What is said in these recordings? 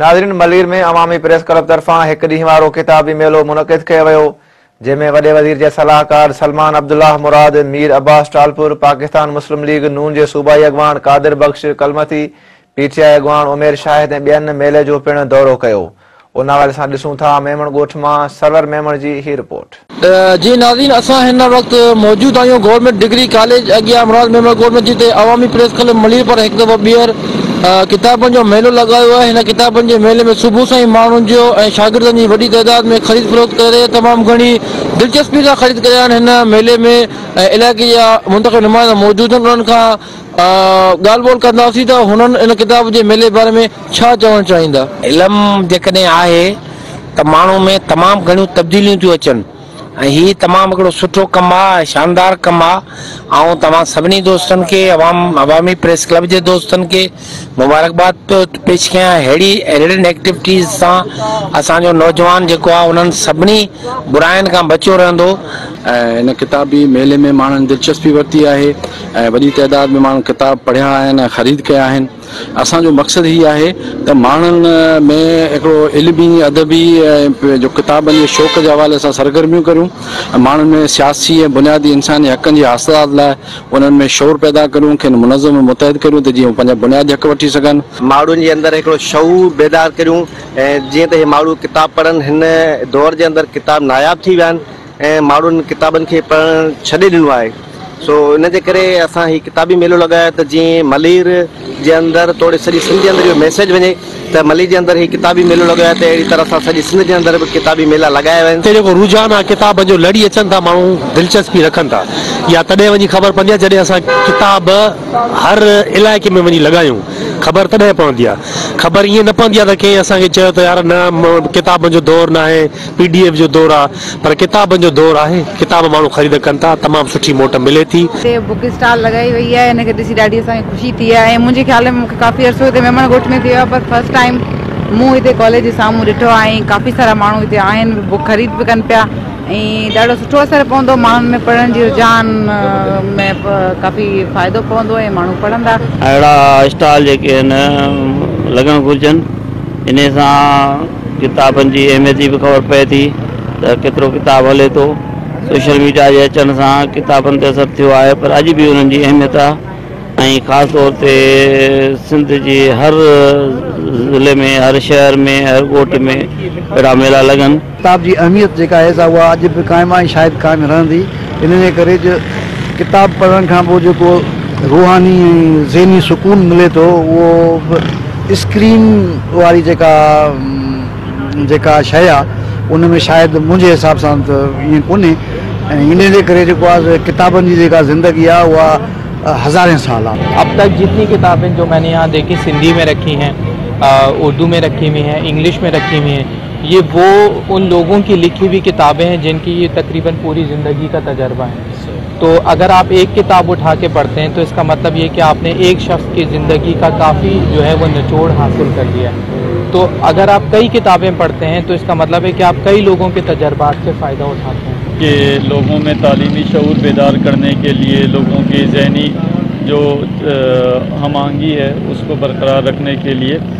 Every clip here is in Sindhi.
ناظرين ملير ۾ عوامي پريس ڪلب طرفان هڪ ڏينهن وارو ڪتابي ميلو منعقد ڪيو ويو جنهن ۾ وڏي وزير جي صلاحڪار سلمان عبدالله مراد، مير عباس ٽالپر، پاڪستان مسلم ليگ ن جي صوبائي اڳواڻ Qadir Bakhsh Kalmati, P T I اڳواڻ عمير شاهد ۽ ٻين ميلي جو پڻ دورو ڪيو ان حوالي سان ڏسون ٿا ميمڻ ڳوٺ مان سرور ميمڻ جي هي رپورٽ. جي ناظرين اسان هن وقت موجود آهيون گورنمينٽ ڊگري ڪاليج اڳيان مراد ميمڻ ڪوٽ ۾ جتي عوامي پريس ڪلب ملير پاران هڪ دفعو ٻيهر ڪتابن جو ميلو لڳايو آهي هن ڪتابن جي ميلي ۾ صبح سان ئي ماڻهن جو ۽ شاگردن جي وڏي تعداد ۾ خريد فروخت ڪري رهي تمام گهڻي دلچسپي سان خريد ڪري رهيا آهن هن ميلي ۾ علائقي جا منتخب نمائندا موجود آهن انهن کان ڳالهه ٻولهه ڪنداسين ته هنن ان ڪتاب جي ميلي باري ۾ ڇا چوڻ چاهيندا؟ علم جيڪڏهن آهي ته ماڻهو ۾ تمام گهڻيون تبديليون ٿيون اچن ۽ هي تمام هڪڙو سٺو ڪم آ ۽ شاندار ڪم آ آئون توهان سڀني دوستن کي عوام عوامي پريس ڪلب جي دوستن کي مبارڪباد پيو پيش ڪيان اهڙي ايڊيڊ ايڪٽيوٽيز سان اسان جو نوجوان جيڪو آهي انهن سڀني براين کان بچيو رهندو. هن ڪتابي ميلي ۾ ماڻهن دلچسپي ورتي آهي ۽ وڏي تعداد ۾ ماڻهن ڪتاب پڙهيا آهن ۽ خريد ڪيا آهن اسان جو مقصد هي آهي ته ماڻهن ۾ هڪڙو علمي ادبي ۽ جو ڪتابن جي شوق جي حوالي سان سرگرميون ڪريون ۽ ماڻهن ۾ سياسي ۽ بنيادي انساني حقن جي حاصلات لاء انهن ۾ شعور پيدا ڪريون، کين منظم ۽ متحد ڪريون ته جيئن هو پنهنجا بنيادي حق وٺي سگهن. ماڻهن جي اندر هڪڙو شعور بيدار ڪريون جيئن ته هي ماڻهو ڪتاب پڙهن، هن دور جي اندر ڪتاب ناياب ٿي ويا آهن ۽ ماڻهن ڪتابن کي پڙهڻ ڇڏي ڏنو آهي سو ان جي ڪري اسان هي ڪتابي ميلو لڳايو آهي ته جيئن ملير جي اندر توڙي سڄي سنڌ جي اندر اهو ميسيج وڃي. ته ملي جي اندر هي ڪتابي ميلو لڳايو آهي ته اهڙي طرح سان سڄي سنڌ جي اندر به ڪتابي ميلا لڳايا ويا آهن. اتي جيڪو رجحان آهي ڪتابن جو لڙي اچن ٿا ماڻهو دلچسپي رکن ٿا اها تڏهن وڃي خبر پوندي آهي جڏهن اسان ڪتاب هر علائقي ۾ وڃي لڳايون خبر تڏهن پوندي آهي خبر ائين نه پوندي آهي ته ڪنهن اسان کي چيو ته يار نه ڪتابن جو دور ناهي پي ڊي ايف جو دور آهي. پر ڪتابن جو دور آهي ڪتاب ماڻهو خريد ڪن ٿا تمام سٺي موٽ ملي ٿي. هتي بوڪ اسٽال لڳائي وئي آهي ان کي ڏسي ڏاڍي اسان کي خوشي ٿي آهي ۽ منهنجي خيال ۾ مون کي ڪافي عرصو هتي ميمڻ ڳوٺ ۾ ٿي ويو آهي پر فرسٽ ٽائيم مون هتي ڪاليج جي سامهون ڏٺو آهي ۽ ڪافي سارا ماڻهو هتي آهن به بوڪ خريد به ڪن پيا ۽ ڏاڍو سٺو اثر پوندو ماڻهن ۾ پڙهڻ جي رجحان ۾ ڪافي فائدو پوندو ۽ ماڻهو پڙهندا. اهڙا اسٽال جيڪي هن لڳڻ گهرجن انهي سان ڪتابن جي اهميت جي به خبر پئي ٿي ته ڪيترو ڪتاب هلي ٿو. سوشل ميڊيا جي اچڻ سان ڪتابن تي اثر ٿيو آهي پر اڄ به انهن جي اهميت آهي ۽ خاص طور تي سنڌ جي هر ضلعي ۾ هر شهر ۾ هر ڳوٺ ۾ اهڙا ميلا لڳن. ڪتاب جي اهميت جيڪا آهي سا اها اڄ به قائم آهي ۽ شايد قائم رهندي. ان جي ڪري جو ڪتاب پڙهڻ کان پوء جيڪو روحاني ۽ ذهني سڪون ملي ٿو اهو به اسڪرين واري جيڪا جيڪا شيء آهي ان ۾ شايد منهنجي حساب سان ته ائين ڪونهي ۽ ان جي ڪري جيڪو آهي ڪتابن جي جيڪا زندگي آهي اها هزارين سال آهي. اب تڪ جتني ڪتابين جو مين ني يهان ديکي سنڌي ۾ رکي هين اردو ۾ رکي هوئي هين انگلش ۾ رکي هوئي هين. يي وو ان لوگون ڪي لکي وي ڪتابين هين جن ڪي يي تقريبن پوري زندگي ڪا تجربا هين تو اگر آپ ايڪ ڪتاب اٺا ڪي پڙهتي هين تو اس ڪا مطلب يي ڪي آپ ني ايڪ شخص ڪي زندگي ڪا ڪافي جو هي وو نچوڙ حاصل ڪر ليا هين تو اگر آپ ڪئي ڪتابين پڙهتي هين تو اس ڪا مطلب هي ڪي آپ ڪئي لوگون ڪي تجربات سي فائده اٺاتے هين. ڪي لوگون مين تعليمي شعور بيدار ڪرني ڪي ليي لوگون ڪي ذهني جو هم آهنگي هي اس ڪو برقرار رکني ڪي ليي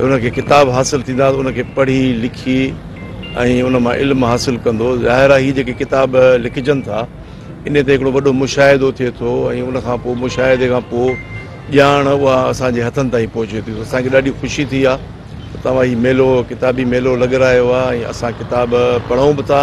ان کي ڪتاب حاصل ٿيندا ته ان کي پڙهي لکي ۽ ان مان علم حاصل ڪندو ظاهر آهي هي جيڪي ڪتاب لکجن ٿا ان تي هڪڙو وڏو مشاهدو ٿئي ٿو ۽ ان کان پوء مشاهدي کان پوء ڄاڻ اها اسان جي هٿن تائين پهچي ٿي اسان کي ڏاڍي خوشي ٿي آهي ته توهان هي ميلو ڪتابي ميلو لڳرايو آهي ۽ اسان ڪتاب پڙهون به ٿا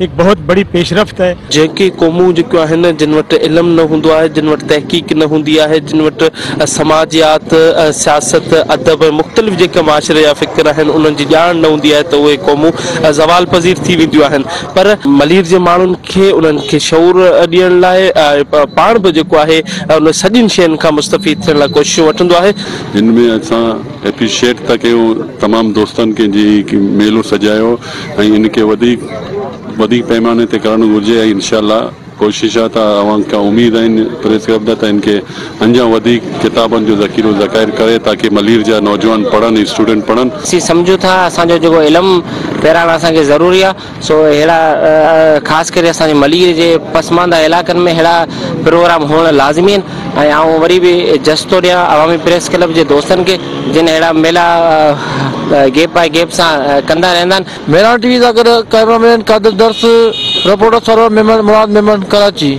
هڪ بهت بڙي پيشرفت هي. جيڪي قومون جيڪيون آهن جن وٽ علم نه هوندو آهي، جن وٽ تحقيق نه هوندي آهي، جن وٽ سماجيات، سياست، ادب ۽ مختلف جيڪا معاشري جا فڪر آهن انهن جي ڄاڻ نه هوندي آهي ته اهي قومون زوال پذير ٿي وينديون آهن پر ملير جي ماڻهن کي انهن کي شعور ڏيڻ لاء پاڻ به جيڪو آهي انهن سڄين شين کان مستفيد ٿيڻ لاء ڪوششون وٺندو آهي. هن ۾ اسان ايپريشيئيٽ ٿا ڪيون تمام دوستن کي جن هي ميلو سجايو. ۽ ان کي وڌيڪ وڏي پئماني تي ڪرڻ گهرجي ۽ انشاء الله ڪوشش آهي ته اوهان کان اميد آهن پريس ڪلب ڏانهن ته ان کي انجا وڌيڪ ڪتابن جو ذخيرو ذخائر ڪري تاڪه ملير جا نوجوان پڙهن ۽ اسٽوڊنٽ پڙهن. اسين سمجهون ٿا اسان جو جيڪو علم پيراڻ اسان کي ضروري آهي سو اهڙا خاص ڪري اسان جي ملير جي پسمانده علائقن ۾ اهڙا پروگرام هئڻ لازمي آهن. ۽ آئون وري به جس ٿو ڏيان عوامي پريس ڪلب جي دوستن کي جن اهڙا ميلا گيپ باء گيپ سان ڪندا رهندا آهن. مهراڻ ٽي وي سان گڏ camera man Qadir Dars, reporter Sarwar Memon, Murad Memon, Karachi.